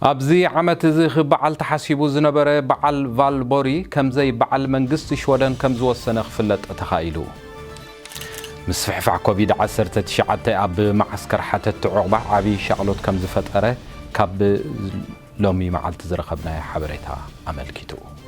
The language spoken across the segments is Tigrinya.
ኣብዚ ዓመት እዚ ክበዓል ተሓሲቡ ዝነበረ በዓል ቫልቦሪ ከምዘይበዓል መንግስቲ ሽወደን ከምዝወሰነ ክፍለጥ ተኻኢሉ። ምስፍሕፋሕ ኮቪድ ዓሰርተ ትሽዓተ ኣብ መዓስከር ሓተትቲ ዑቕባ ዓብዪ ሻቕሎት ከምዝፈጠረ ካብ ሎሚ መዓልቲ ዝረኸብናዮ ሓበሬታ ኣመልኪቱ።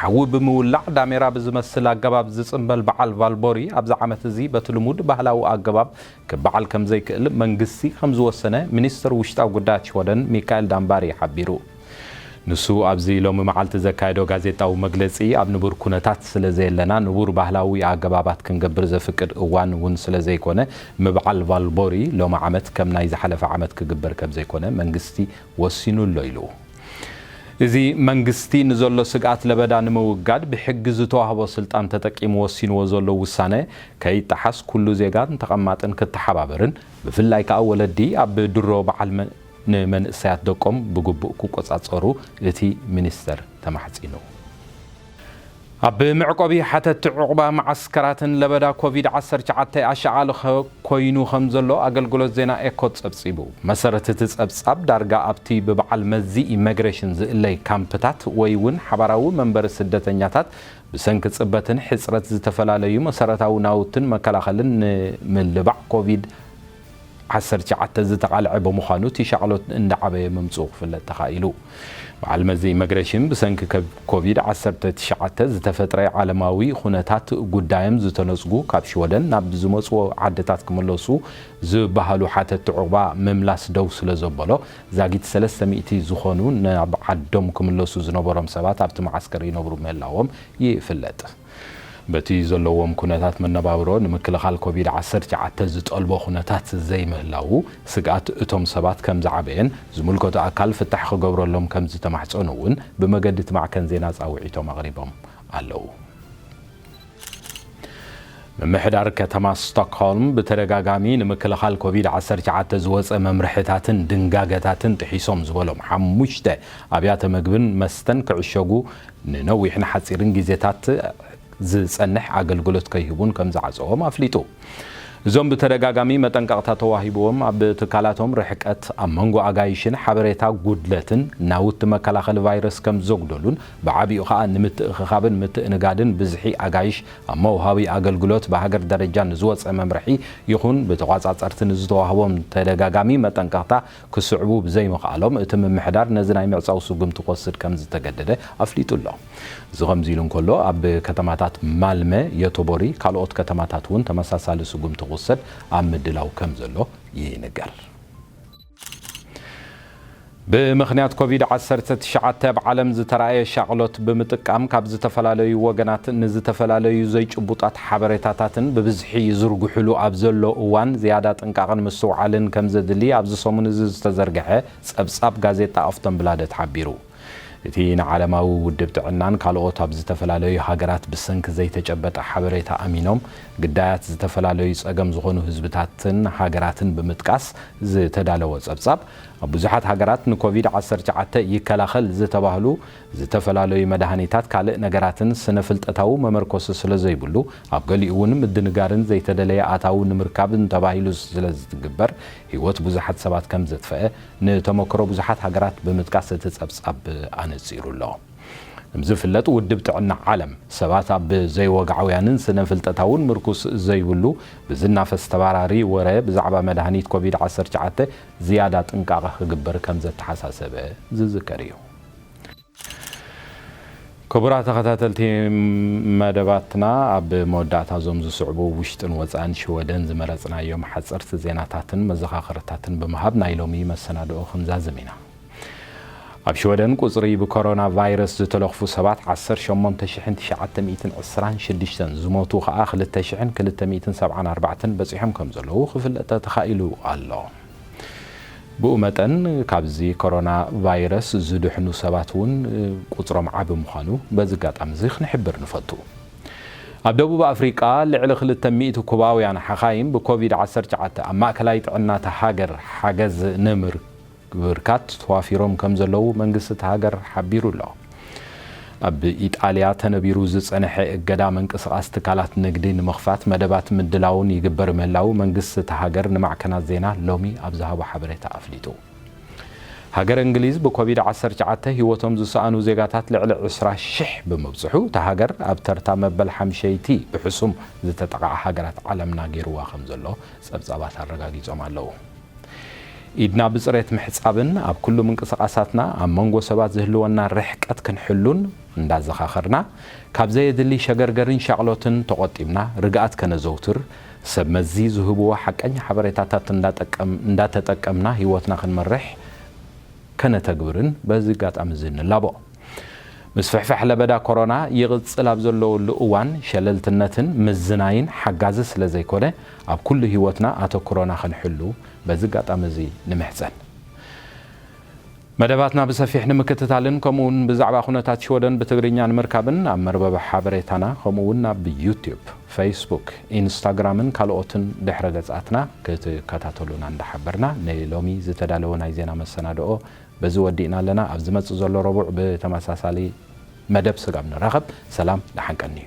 ሓዊ ብምውላዕ ዳሜራ ብዝመስል ኣገባብ ዝጽምበል በዓል ቫልቦሪ ኣብዚ ዓመት እዚ በቲ ልሙድ ባህላዊ ኣገባብ ክበዓል ከምዘይክእል መንግስቲ ከምዝወሰነ ሚኒስተር ውሽጣዊ ጉዳያት ሽወደን ሚካኤል ዳምባሪ ሓቢሩ። ንሱ ኣብዚ ሎሚ መዓልቲ ዘካየዶ ጋዜጣዊ መግለጺ ኣብ ንቡር ኩነታት ስለዘየለና ንቡር ባህላዊ ኣገባባት ክንገብር ዘፍቅድ እዋን እውን ስለዘይኮነ ምብዓል ቫልቦሪ ሎሚ ዓመት ከም ናይ ዝሓለፈ ዓመት ክግበር ከምዘይኮነ መንግስቲ ወሲኑ ኣሎ ኢሉ። እዚ መንግስቲ ንዘሎ ስግኣት ለበዳ ንምውጋድ ብሕጊ ዝተዋህቦ ስልጣን ተጠቂሙ ወሲንዎ ዘሎ ውሳነ ከይጠሓስ ኩሉ ዜጋን ተቐማጥን ክተሓባበርን ብፍላይ ከኣ ወለዲ ኣብ ድሮ በዓል ንመንእሰያት ደቆም ብግቡእ ክቆጻጸሩ እቲ ሚኒስተር ተማሕጺኑ። ኣብ መዕቆቢ ሓተቲ ዑቕባ መዓስከራትን ለበዳ ኮቪድ ዓሰርተ ትሽዓተ ኣሻቓሊ ኮይኑ ከምዘሎ ኣገልግሎት ዜና ኤኮ ጸብጺቡ። ብመሰረት እቲ ጸብጻብ፣ ዳርጋ ኣብቲ ብበዓል መዚ ኢመግሬሽን ዝእለይ ካምፕታት ወይ'ውን ሓባራዊ መንበሪ ስደተኛታት ብሰንኪ ጽበትን ሕጽረት ዝተፈላለዩ መሰረታዊ ናውትን መከላኸልን ንምልባዕ ኮቪድ ዓሰርተ ትሽዓተ ዝተቓልዐ ብምዃኑ እቲ ሻቕሎት እንዳዓበየ ምምፅኡ ክፍለጥ ተኻኢሉ። በዓል መዚ ኢመግሬሽን ብሰንኪ ኮቪድ ዓሰርተ ትሽዓተ ዝተፈጥረ ዓለማዊ ኹነታት ጉዳዮም ዝተነፅጉ ካብ ሽወደን ናብ ዝመፅዎ ዓድታት ክምለሱ ዝበሃሉ ሓተቲ ዑቕባ ምምላስ ደው ስለዘበሎ ዛጊት ሰለስተ ሚእቲ ዝኾኑ ናብ ዓዶም ክምለሱ ዝነበሮም ሰባት ኣብቲ መዓስከር ይነብሩ ምህላዎም ይፍለጥ። በቲ ዘለዎም ኩነታት መነባብሮ ንምክልኻል ኮቪድ ዓሰርተ ትሽዓተ ዝጠልቦ ኩነታት ዘይምህላዉ ስግኣት እቶም ሰባት ከምዝዓበየን ዝምልከቶ ኣካል ፍታሕ ክገብረሎም ከምዝተማሕፀኑ እውን ብመገዲ እቲ ማዕከን ዜና ፃውዒቶም ኣቕሪቦም ኣለዉ። ምምሕዳር ከተማ ስቶክሆልም ብተደጋጋሚ ንምክልኻል ኮቪድ ዓሰርተ ትሽዓተ ዝወፀ መምርሕታትን ድንጋገታትን ጥሒሶም ዝበሎም ሓሙሽተ ኣብያተ ምግብን መስተን ክዕሸጉ ንነዊሕን ሓፂርን ጊዜታት ዝፀንሕ ኣገልግሎት ከይህቡን ከምዝዓፀዎም ኣፍሊጡ። እዞም ብተደጋጋሚ መጠንቀቕታ ተዋሂብዎም ኣብ ትካላቶም ርሕቀት ኣብ መንጎ ኣጋይሽን ሓበሬታ ጉድለትን ናውቲ መከላኸሊ ቫይረስ ከምዘጉደሉን ብዓቢኡ ከዓ ንምትእኽኻብን ምትእንጋድን ብዝሒ ኣጋይሽ ኣብ መውሃቢ ኣገልግሎት ብሃገር ደረጃ ንዝወፀ መምርሒ ይኹን ብተቋፃፀርቲ ንዝተዋህቦም ተደጋጋሚ መጠንቀቕታ ክስዕቡ ብዘይምኽኣሎም እቲ ምምሕዳር ነዚ ናይ ምዕጻው ስጉምቲ ክወስድ ከምዝተገደደ ኣፍሊጡ ኣሎ። እዚ ከምዚ ኢሉ እንከሎ ኣብ ከተማታት ማልመ፣ ዮቶቦሪ ካልኦት ከተማታት እውን ተመሳሳሊ ስጉምቲ ክውሰድ ኣብ ምድላው ከምዘሎ ይንገር። ብምኽንያት ኮቪድ ዓሰርተ ትሽዓተ ኣብ ዓለም ዝተራእየ ሻቕሎት ብምጥቃም ካብ ዝተፈላለዩ ወገናት ንዝተፈላለዩ ዘይጭቡጣት ሓበሬታታትን ብብዝሒ ይዝርግሑሉ ኣብ ዘሎ እዋን ዝያዳ ጥንቃቐን ምስትውዓልን ከም ዘድሊ ኣብዚ ሰሙን እዚ ዝተዘርግሐ ጸብጻብ ጋዜጣ ኣፍቶንብላደት ሓቢሩ። እቲ ንዓለማዊ ውድብ ጥዕናን ካልኦት ኣብ ዝተፈላለዩ ሃገራት ብሰንኪ ዘይተጨበጠ ሓበሬታ ኣሚኖም ግዳያት ዝተፈላለዩ ጸገም ዝኾኑ ህዝብታትን ሃገራትን ብምጥቃስ ዝተዳለወ ጸብጻብ ኣብ ብዙሓት ሃገራት ንኮቪድ ዓሰርተ ትሽዓተ ይከላኸል ዝተባህሉ ዝተፈላለዩ መድሃኒታት ካልእ ነገራትን ስነ ፍልጠታዊ መመርኮሲ ስለ ዘይብሉ ኣብ ገሊኡ እውን ምድንጋርን ዘይተደለየ ኣታዊ ንምርካብ ተባሂሉ ስለ ዝትግበር ህይወት ብዙሓት ሰባት ከም ዘጥፈኣ ንተመክሮ ብዙሓት ሃገራት ብምጥቃስ እቲ ጸብጻብ ኣነጺሩ ኣሎ። ከም ዝፍለጥ ውድብ ጥዕና ዓለም ሰባት ኣብ ዘይወግዓውያንን ስነ ፍልጠታውን ምርኩስ ዘይብሉ ብዝናፈስ ተባራሪ ወረ ብዛዕባ መድሃኒት ኮቪድ ዓሰርተ ትሽዓተ ዝያዳ ጥንቃቐ ክግበር ከም ዘተሓሳሰበ ዝዝከር እዩ። ክቡራት ተኸታተልቲ መደባትና ኣብ መወዳእታ እዞም ዝስዕቡ ውሽጥን ወፃእን ሽወደን ዝመረፅናዮም ሓፀርቲ ዜናታትን መዘኻኸርታትን ብምሃብ ናይ ሎሚ መሰናድኦ ክንዛዝም ኢና። ኣብ ሽወደን ቁፅሪ ብኮሮና ቫይረስ ዝተለኽፉ ሰባት ዓሰርተ ሸሞንተ ሽሕን ትሽዓተ ሚእትን ዕስራን ሽዱሽተን ዝሞቱ ከዓ ክልተ ሽሕን ክልተ ሚእትን ሰብዓን ኣርባዕተን በፂሖም ከምዘለዉ ክፍለጠ ተኻኢሉ ኣሎ። ብኡ መጠን ካብዚ ኮሮና ቫይረስ ዝድሕኑ ሰባት እውን ቁፅሮም ዓቢ ምዃኑ በዚ ኣጋጣሚ እዚ ክንሕብር ንፈቱ። ኣብ ደቡብ ኣፍሪቃ ልዕሊ ክልተ ሚእቲ ኩባውያን ሓኻይም ብኮቪድ ዓሰርተ ትሽዓተ ኣብ ማእከላይ ጥዕና እታ ሃገር ሓገዝ ንምብርካት ተዋፊሮም ከምዘለዉ መንግስቲ እታ ሃገር ሓቢሩ ኣሎ። ኣብ ኢጣልያ ተነቢሩ ዝጸነሐ እገዳ ምንቅስቓስ ትካላት ንግዲ ንምኽፋት መደባት ምድላውን ይግበር ምህላው መንግስቲ እታ ሃገር ንማዕከናት ዜና ሎሚ ኣብ ዝሃቦ ሓበሬታ ኣፍሊጡ። ሃገረ እንግሊዝ ብኮቪድ ዓሰርተ ትሽዓተ ህይወቶም ዝሰኣኑ ዜጋታት ልዕሊ ዕስራ ሽሕ ብምብጽሑ እታ ሃገር ኣብ ተርታ መበል ሓምሸይቲ ብሕሱም ዝተጠቕዓ ሃገራት ዓለምና ገይሩዋ ከምዘሎ ጸብጻባት ኣረጋጊጾም ኣለዉ። ኢድና ብጽሬት ምሕጻብን ኣብ ኩሉ ምንቅስቓሳትና ኣብ መንጎ ሰባት ዝህልወና ርሕቀት ክንሕሉን እንዳዘኻኸርና፣ ካብ ዘየድሊ ሸገርገርን ሻቕሎትን ተቖጢብና ርግኣት ከነዘውትር፣ ሰብ መዚ ዝህብዎ ሓቀኛ ሓበሬታታት እንዳተጠቀምና ህይወትና ክንመርሕ ከነተግብርን በዚ ኣጋጣሚ'ዚ ንላቦ። ምስፍሕፋሕ ለበዳ ኮሮና ይቕጽል ኣብ ዘለወሉ እዋን ሸለልትነትን ምዝናይን ሓጋዚ ስለዘይኮነ፣ ኣብ ኩሉ ሂወትና ኣተኩሮና ክንሕሉ በዚ ኣጋጣሚ እዚ ንምሕጸን። መደባትና ብሰፊሕ ንምክትታልን ከምኡ ውን ብዛዕባ ኩነታት ሽወደን ብትግርኛ ንምርካብን ኣብ መርበብ ሓበሬታና ከምኡ ውን ኣብ ዩቱብ፣ ፈይስቡክ፣ ኢንስታግራምን ካልኦትን ድሕረ ገጻትና ክትከታተሉና እንዳሓበርና ንሎሚ ዝተዳለወ ናይ ዜና መሰናድኦ በዚ ወዲእና ኣለና። ኣብ ዝመጽእ ዘሎ ረቡዕ ብተመሳሳሊ መደብ ስጋብ ንራኸብ ሰላም ደሓን ቀንዩ።